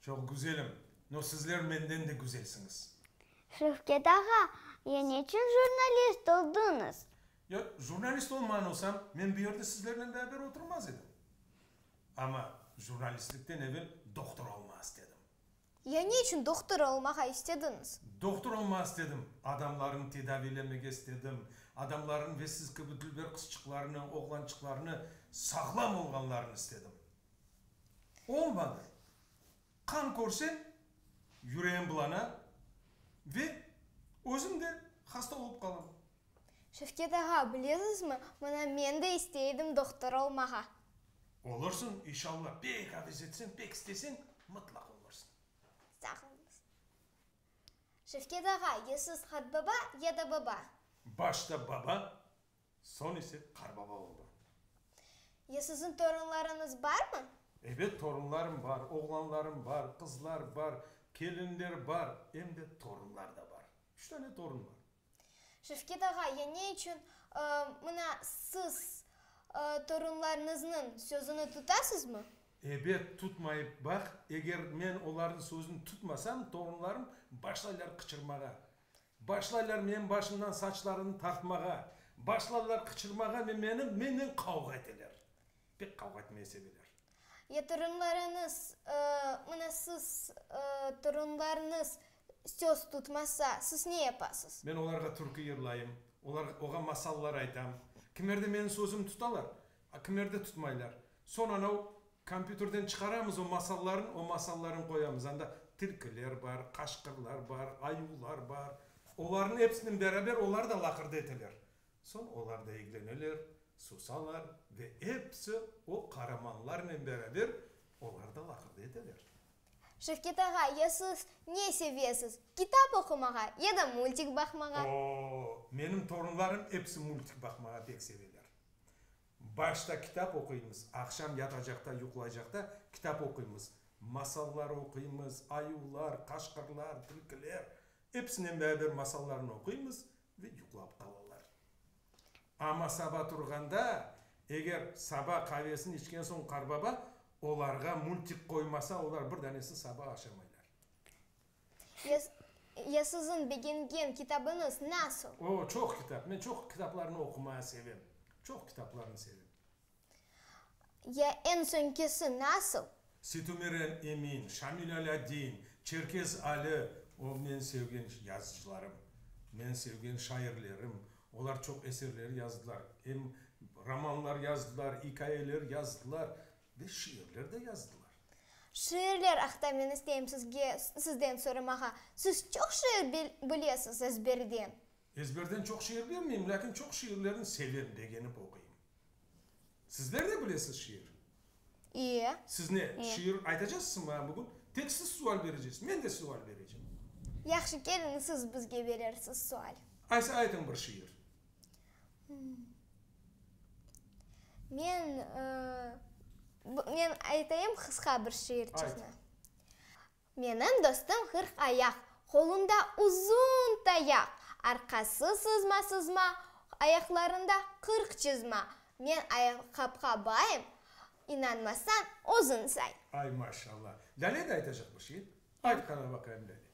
Çoq güzelim, no sizler menden de güzelsiñiz. Şevket ağa, ya neçün jurnalist oldıñız? Ya jurnalist olman olsam, men bu yerde sizlernen beraber oturmaz edim. Amma jurnalistlikten evel doktor olma istedim. Ya neçün doktor olmağa istediñiz? Doktor olma istedim, adamlarnı tedaviylemege istedim, adamlarnı ve siz kibi dülber qızçıqlarnı, oğlançıqlarnı sağlam olğanlarını istedim. O vaqıt qan körsem, yüreğim bulana ve özüm de hasta olıp qalam. Şevket ağa, bilesizmi, mına men de isteydim doqtor olmağa. Olursıñ, inşalla, pek avez etseñ, pek isteseñ, mıtlaq olursıñ. Sağ oluñız. Şevket ağa, ya siz qat baba, ya da baba? Başta baba, Soñ ise qarbaba oldı. Ya siziñ torunlarıñız barmı? Ebet, torunlarım bar, oğlanlarım bar, qızlar bar, kelinler bar, em de torunlar da bar. Üç tane torun bar. Şevket ağa, ya ne içün, mına, siz torunlarıñıznıñ sözüni tutasızmı? Ebet, tutmayıp baq, eger men olarnıñ sözüni tutmasam, torunlarım başlaylar qıçırmağa. Başlaylar menim başımdan saçlarını tartmağa, başlarlar qıçırmağa ve menim, menden qavğa eteler. Pek qavğa etmeye seveler. Ya torunlarıñız, mına siz, torunlarıñız söz tutmasa, siz ne yapasız? Men olarğa türkü yırlayım, olarğa, oğa masallar aytam. Kimler de menim sözümni tutalar, Akimlerde tutmaylar. Soñ anav kompyuterden çıqaramız o masallarnı, o masallarnı qoyamız. Anda tilkiler bar, qaşqırlar bar, ayuvlar bar. Olarnıñ episinen beraber olar da laqırdı eteler. Soñ olar da egleneler, susalar ve episi o qaramanlarnen beraber olar da laqırdı eteler. Şevket ağa, ya siz ne sevesiz, kitap oqumağa ya da multik baqmağa? Oo, menim torunlarım episi multik baqmağa pek seveler. Başta kitap oquymız, aqşam yatacaqta, yuqlaycaqta kitap oquymız. Masallar oquymız, ayuvlar, qaşqırlar, tilkiler, episinen beraber masallarnı oquymız ve yuqlap qalalar. Amma saba turğanda, eger saba qavesini içken soñ qarbaba olarğa multik qoymasa, olar bir danesi saba aşamaylar. Ya, ya siziñ begengen kitabıñız nasıl? O, çoq kitap. Men çoq kitaplarnı oqumaya sevem. Çoq kitaplarnı sevem. Ya eñ soñkisi nasıl? Sütümiren Emin, Şamil Alâddin, Çerkez Ali, o, men sevgen yazıcılarım, men sevgen şairlerim. Olar çoq eserler yazdılar. Em romanlar yazdılar, ikayeler yazdılar. Ve şiirler de yazdılar. Şiirler aqta men isteyim sizge, sizden soramağa. Siz çoq şiir bil, bilesiz ezberden. Ezberden çoq şiir bilmeyim, lâkin çoq şiirlerni sevem, begenip oquyım. Sizler de bilesiz şiir? İye. Siz ne, şiir aytacaqsız maña bugün? Tek siz sual bereceksis, men de sual berecem. Yahşı, keliñ siz bizge berersiz sual. Ayse aytıñ bir şiir. Men men aytayım qısqa bir şiirçesini. Menim dostum qırq ayaq, qolunda uzun tayaq, arqası sızma-sızma, ayaqlarında qırq çızma. Men ayaqapqa bayım, inanmasañ, özüñ say. Ay, maşallah! Lâle de aytacaqmış, e? Ayt qara baqayım, Lâle.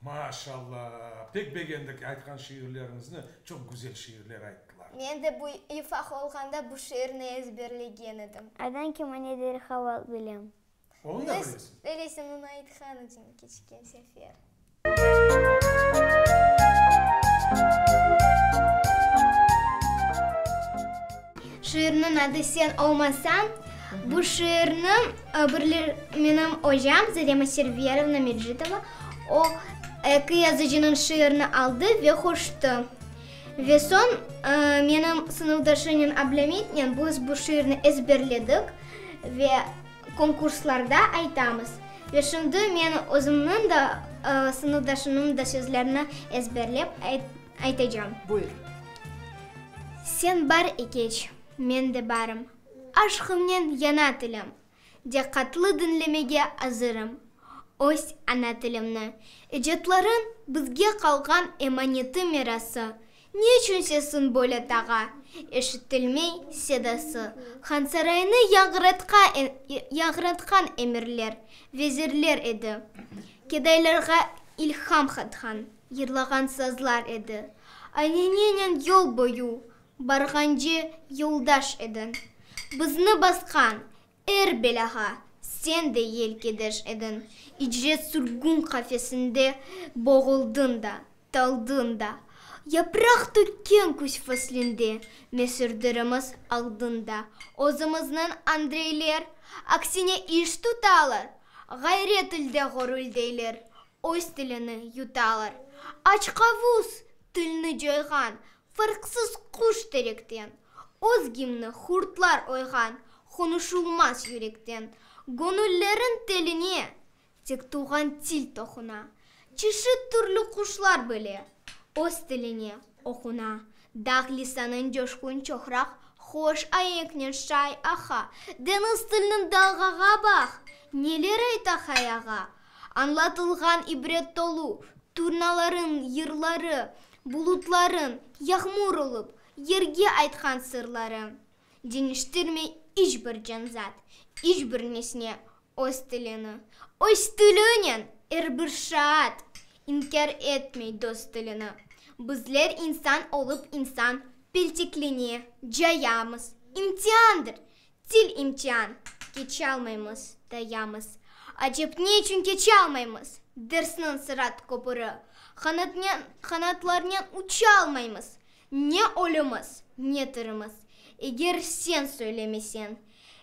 Maşalla! Pek begendik aytqan şiirleriñizni, çoq güzel şiirler ayttılar. Men de bu ifaq olğanda bu şiirni ezberlegen edim. Aydan ki mane derhal aq bilem. Onı da bilesiñ? Bilesiñ, onı aytqan edim keçken sefer. Şiirniñ adı Sen olmasañ. Bu şiirni menim ocam Zarema Serverovna Mecitova, o, eki yazıcınıñ şiirini aldı ve qoştı. Ve soñ menim sınıfdaşımnen Ablametnen biz bu şiirni ezberledik ve konkurslarda aytamız. Ve şimdi men özümniñ de, sınıfdaşımnıñ da sözlerini ezberlep Aytacam. Buyur. Sen bar ekeç, men de barım. Aşqıñnen yana tilim. Diqqatlı diñlemege azırım. Öz ana tilimni, icatlarıñ bizge qalğan emaneti mirası. Ne içün sesiñ böyle tağa, eşitilmey sedası. Hansaraynı yañratqan emirler, vezirler edi. Kedaylarğa ilham qatqan. Yırlağan sazlar edi. Alenenen yol boyu barğance yoldaş ediñ. Bizni basqan er belâğa sen de yelkedeş ediñ. İcret sürgün qafesinde boğuldıñ da, taldıñ da. Yapraq tökken küz faslinde mesürdirimiz aldıñ da. Özümizniñ Andreyler, aksine, iş tutalar, ğayret ilde ğorüldeyler. Öz tilini yutalar. Açqavuz, tilni coyğan, Fırqsız quş terekten. Öz gimni hurtlar oyğan, Qonuşulmaz yürekten. Gonüllerin teline Tek tuvğan til toquna. Çeşit türlü quşlar bile Öz tiline oquna. Dağ lisanın coşqun çoqraq, Hoş aenknen şay aqa. Deñiz tilnin dalğağa baq, Neler ayta hay ağa. Añlatılğan ibret tolu turnalarıñ yırları, bulutlarıñ yağmur olıp, yerge aytqan sırları, deñiştirmey iç bir canzat, iç bir nesne öz tilini, öz tilinen er bir şaat, inkâr etmey dost tilini. Bizler insan olıp insan peltekline cayamız, imtiandır, Til imtian, keçe almaymız, dayamız. Acep ne içün keçe almaymız? Dersniñ sırat köpüri, qanatnen, qanatlarnen uça almaymız. Ne ölümiz, ne tirimiz. Eger sen söylemesen,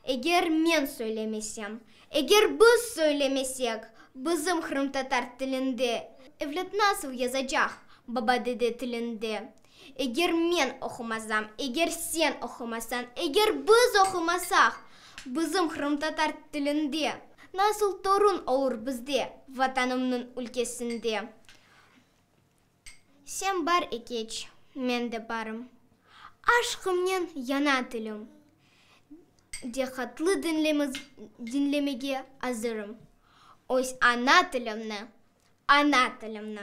eger men söylemesem, eger biz söylemesek, bizim qırımtatar tilinde, evlat nasıl yazacaq baba-dede tilinde? Eger men oqumasam, eger sen oqumasan, eger biz oqumasaq, bizim qırımtatar tilinde. Nasıl torun olur bizde, Vatanımnıñ ülkesinde? Sen bar ekeç, men de barım. Aşqımnen yana tilim. Diqqatlı diñlemiz, diñlemege azırım. Öz ana tilimni, ana tilimni.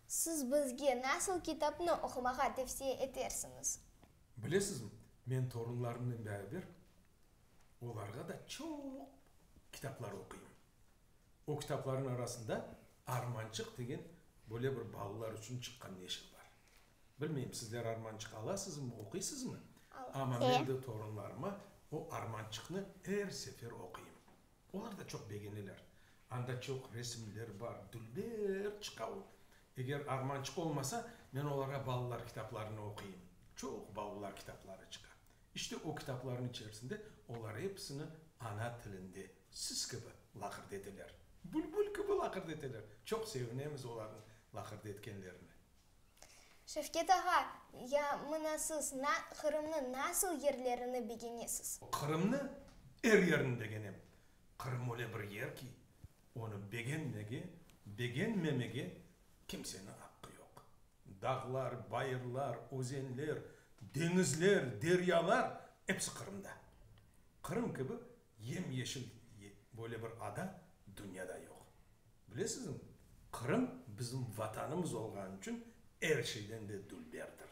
Siz bizge nasıl kitapnı oqumağa tevsiye etersiñiz? Bilesizmi, men torunlarımnen beraber olarğa da çoq kitaplar oquyım. O kitaplarnıñ arasında Armançıq degen böyle bir balalar içün çıqqan neşir bar. Bilmeyim, sizler armançıq alasızmı, oquysızmı? Amma men de torunlarıma o armançıqnı er sefer oquyım. Olar da çoq begeneler. Anda çoq resimler bar, dülber çıqa o. Eger armançıq olmasa, men olarğa balalar kitaplarını oquyım. Çoq balalar kitapları çıqa. İşte, o kitaplarnıñ içerisinde olar episini ana tilinde, siz kibi, laqırd eteler. Bülbül kibi laqırd eteler. Çoq sevinemiz olarnıñ laqırd etkenlerine. Şevket ağa, ya mına siz na, Qırımnı nasıl yerlerini begenesiz? Qırımnı er yerini begenem. Qırım öyle bir yer ki, onı begenmege, begenmemege kimseni aqqı yoq. Dağlar, bayırlar, özenler, deñizler, deryalar, epsi Qırımda. Qırım kibi yem-yeşil böyle bir ada dünyada yoq. Bilesizmi, Qırım bizim Vatanımız olğanı içün er şeyden de dülberdir.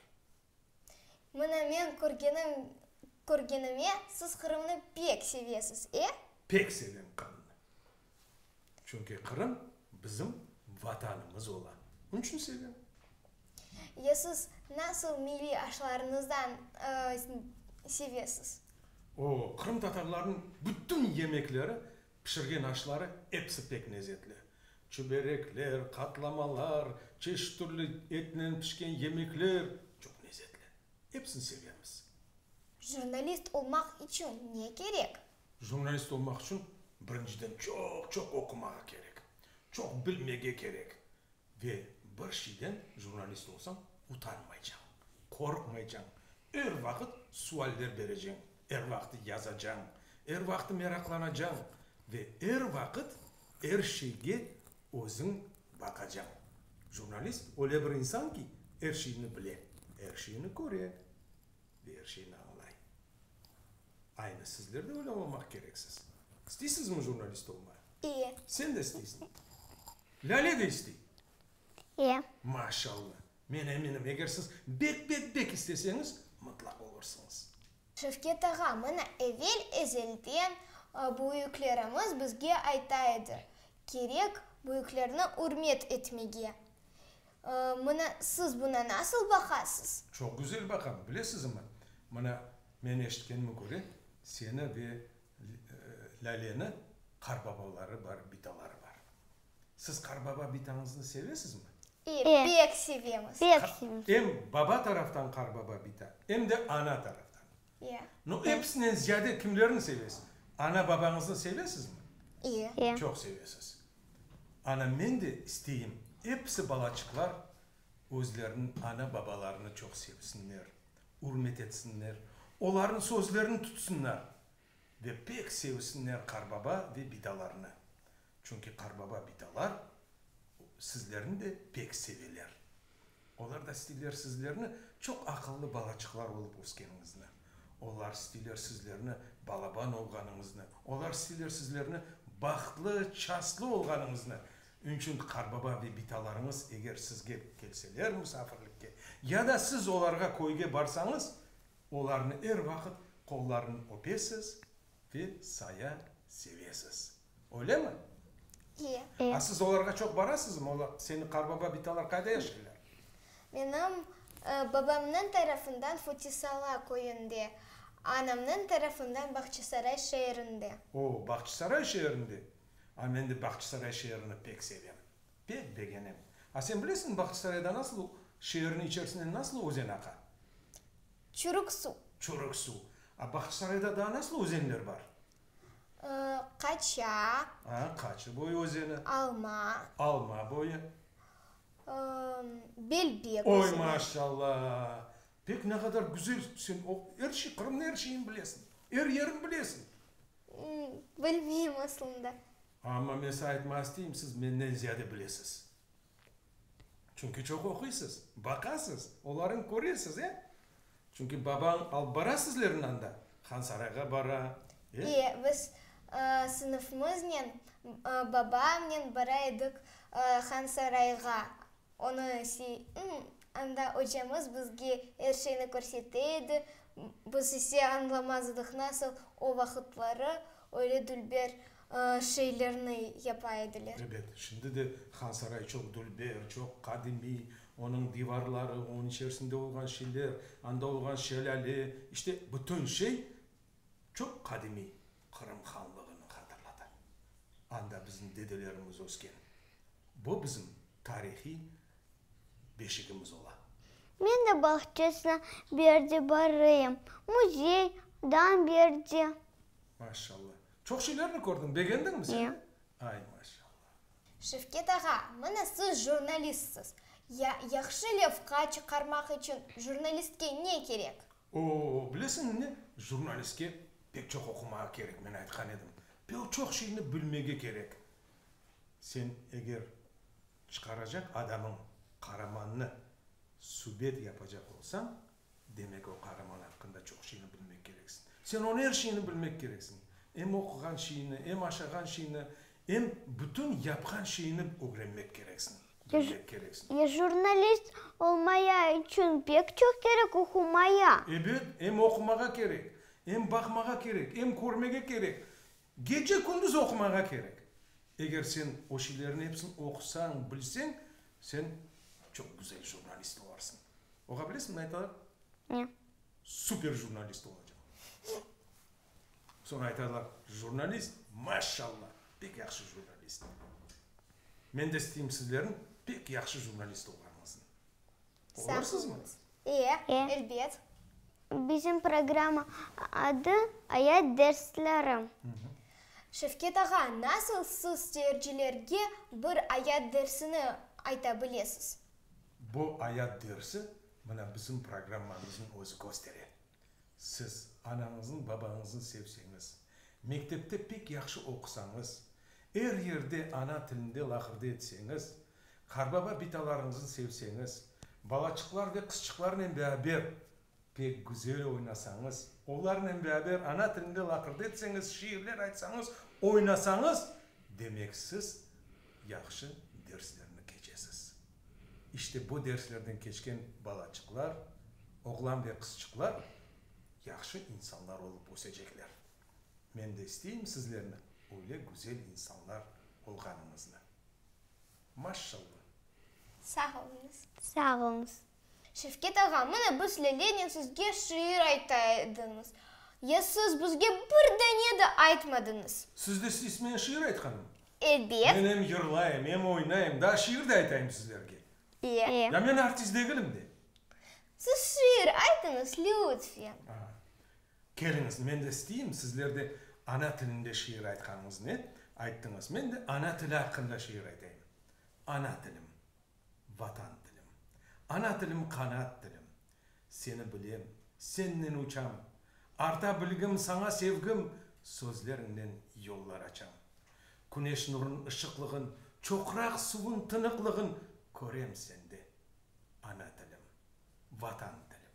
Mına men körgenim, körgenime, siz Qırımnı pek sevesiz, e? Pek sevem Qırımnı. Çünki Qırım bizim Vatanımız ola. Onı içün sevem. Ya siz nasıl milliy aşlarınızdan sevesiz? O, Qırım tatarlarınıñ bütün yemekleri Pişirgen aşları episi pek lezetli. Çüberekler, qatlamalar, çeşit türlü etnen pişken yemekler çoq lezetli. Epsini sevemiz. Jurnalist olmaq içün ne kerek? Jurnalist olmaq içün birinciden çoq-çoq oqumağa kerek, çoq bilmege kerek. Ve bir şeyden jurnalist olsañ, utanmaycañ, qorqmaycañ, er vaqıt sualler bereceñ. Er vaqıt yazacañ, er vaqıt meraqlanacañ ve er vaqıt er şeyge özüñ baqacañ. Jurnalist öyle bir insan ki, er şeyni bile, er şeyni köre ve er şeyni añlay. Aynı sizler de öyle olmaq kereksiz. İsteysizmi jurnalist olmay? İye. Sen de isteysiñ? Lâle de istey? İye. Maşallah! Men eminim, eger siz bek-bek-bek isteseñiz, mıtlaq olursıñız. Şevket ağa, mına, evel ezelden büyüklerimiz bizge ayta edi, kerek büyüklerni ürmet etmege. Mına, siz buna nasıl baqasız? Çoq güzel baqam. Bilesizmi, mına, men eşitkenime köre, seni ve Lâleni qarbabaları bar, bitaları bar. Siz qarbaba-bitañıznı sevesizmi? E, pek sevemiz. Pek sevemiz. Em baba taraftan qarbaba bita, em de ana taraftan. E. No, episinen ziyade kimlerni sevesiz? Ana-babañıznı sevesizmi? E. Çoq sevesiz. Ana, men de isteyim, episi balaçıqlar özleriniñ ana-babalarını çoq sevsinler, ürmet etsinler, olarnıñ sözlerini tutsınlar. Ve pek sevsinler qarbaba ve bidalarnı. Çünki qarbaba, bidalar sizlerni de pek seveler. Olar da isteyler sizlerni çoq aqıllı balaçıqlar olıp öskeniñizni. Olar isteyler sizlerni balaban olğanıñıznı. Olar isteyler sizlerni bahtlı, çastlı olğanıñıznı. Ünçün qarbaba ve bidalarıñız eger sizge kelseler musafirlikke ya da siz olarğa köyge barsañız, Olarnı er vaqıt qollarını öpesiz ve saya sevesiz. Öylemi? İye. A siz olarğa çoq barasızmı? Ola, seni qarbaba bitalar qayda yaşaylar? Menim babamnıñ tarafından Futisala köyünde, anamnıñ tarafından Bağçasaray şeerinde. O, Bağçasaray şeerinde? A men de Bağçasaray şeerini pek sevem. Pek begenem. A sen bilesiñ Bahtçısarayda nasıl u, şeerniñ içersinden nasıl özen aqa? Çürük suv. Çürük suv. A Bahtçısarayda daa nasıl özenler bar? Qaça. A, Qaçı boyu özeni. Alma. Alma boyu. Belbek özeni. Oy, maşalla! Pek ne qadar güzel sen o, er şey, Qırımnıñ er şeyini bilesiñ, er yerini bilesiñ. Bilmeyim, aslında. Amma men size aytmaq isteyim, siz menden ziyade bilesiz. Çünki çoq oquysız, baqasız, olarıñ köresiz, e? Çünki babañ alıp bara sizlerni anda, Hansarayğa bara, e? E, biz sınıfımıznen babamnen bara edik Hansarayğa. Onı siy, ımm, anda ocamız bizge er şeyni körsete edi, biz ise añlamaz edik, nasıl o vaqıtları, öyle dülber şeylerni yapa ediler. Ebet, şimdi de Hansaray çoq dülber, çoq qadimiy, onıñ divarları, onıñ içerisinde olğan şeyler, anda olğan şelâle, işte, bütün şey çoq qadimiy Qırım Hanlığını hatırlata. Anda bizim dedelerimiz ösken. Bu bizim tarihiy beşigimiz ola. Men de bağçasına bir de barayım, muzey, dan bir de. Maşallah. Çoq şeylerni kördiñ, begendiñmi sen? Ay, maşallah! Şevket ağa, mına siz jurnalistsiz. Ya, yahşı levha çıqarmaq içün jurnalistke ne kerek? Oo, bilesiñmi ne, jurnalistke pek çoq oqumağa kerek, men aytqan edim. Pek çoq şeyni bilmege kerek. Sen eger çıqaracaq adamıñ qaramannı subet yapacaq olsañ, Demek, o qaraman aqqında çoq şeyni bilmek kereksiñ. Sen onı er şeyni bilmek kereksiñ. Em oquğan şeyni, em aşağan şeyni, em bütün yapqan şeyni ögrenmek kereksiñ, bilmek kereksiñ. Ya jurnalist olmaya içün pek çoq kerek oqumaya? Ebet, em oqumağa kerek, em baqmağa kerek, em körmege kerek. Gece-kündüz oqumağa kerek. Eger sen o şeylerniñ epsini oqusañ, bilseñ, sen çoq güzel jurnalist olarsıñ. Oqa bilesiñ ne aytalar? Ne? Super jurnalist olacaq. Soñ aytalar, jurnalist, maşşalla, pek yahşı jurnalist. Men de isteyim sizlerniñ pek yahşı jurnalist olğanıñıznı. Olarısızmı? Ee, elbet. Bizim programma adı Ayat dersleri. Şevket ağa, nasıl siz seyircilerge bir ayat dersini ayta bilesiz? Bu ayat dersi mına bizim programmamıznıñ özü köstere. Siz anañıznıñ, babañıznıñ sevseñiz, mektepte pek yahşı oqusañız, er yerde ana tilinde laqırdı etseñiz, Qarnava bitalarıñıznı sevseñiz, balaçıqlar ve qızçıqlarnen beraber pek güzel oynasañız, olarnen beraber ana tilinde laqırdı etseñiz, şiirler aytsañız, oynasañız, demek siz yahşı derslerni keçesiz. İşte bu derslerden keçken balaçıqlar, oğlan ve qızçıqlar yahşı insanlar olıp ösecekler. Men de isteyim sizlerni öyle güzel insanlar olğanıñıznı. Maşşallah. Sağ oluñız. Sağ oluñız. Şevket ağa, mına biz Lelenin sizge şiir ayta ediñiz. Ya siz bizge bir dane de aytmadıñız. Sizde siz men şiir aytqanım? Ebet. Men em yırlayım, em oynayım, daa şiir de aytayım sizlerge. İyi. İyi. Ya men artist degilim de. Siz şiir aytıñız, lütfen. Aa. Keliñiz, men de isteyim, sizler de ana tilinde şiir aytqanıñıznı ayttıñız, men de ana tili aqqında şiir aytayım. Ana tilim, Vatan tilim. Ana tilim, qanat tilim. Seni bilem, sennen uçam. Arta bilgim, saña sevgim, sözleriñnen yollar açam. Küneş nurun ışıqlığın, çoqraq suvun tınıqlığın körem sende. Ana tilim, Vatan tilim.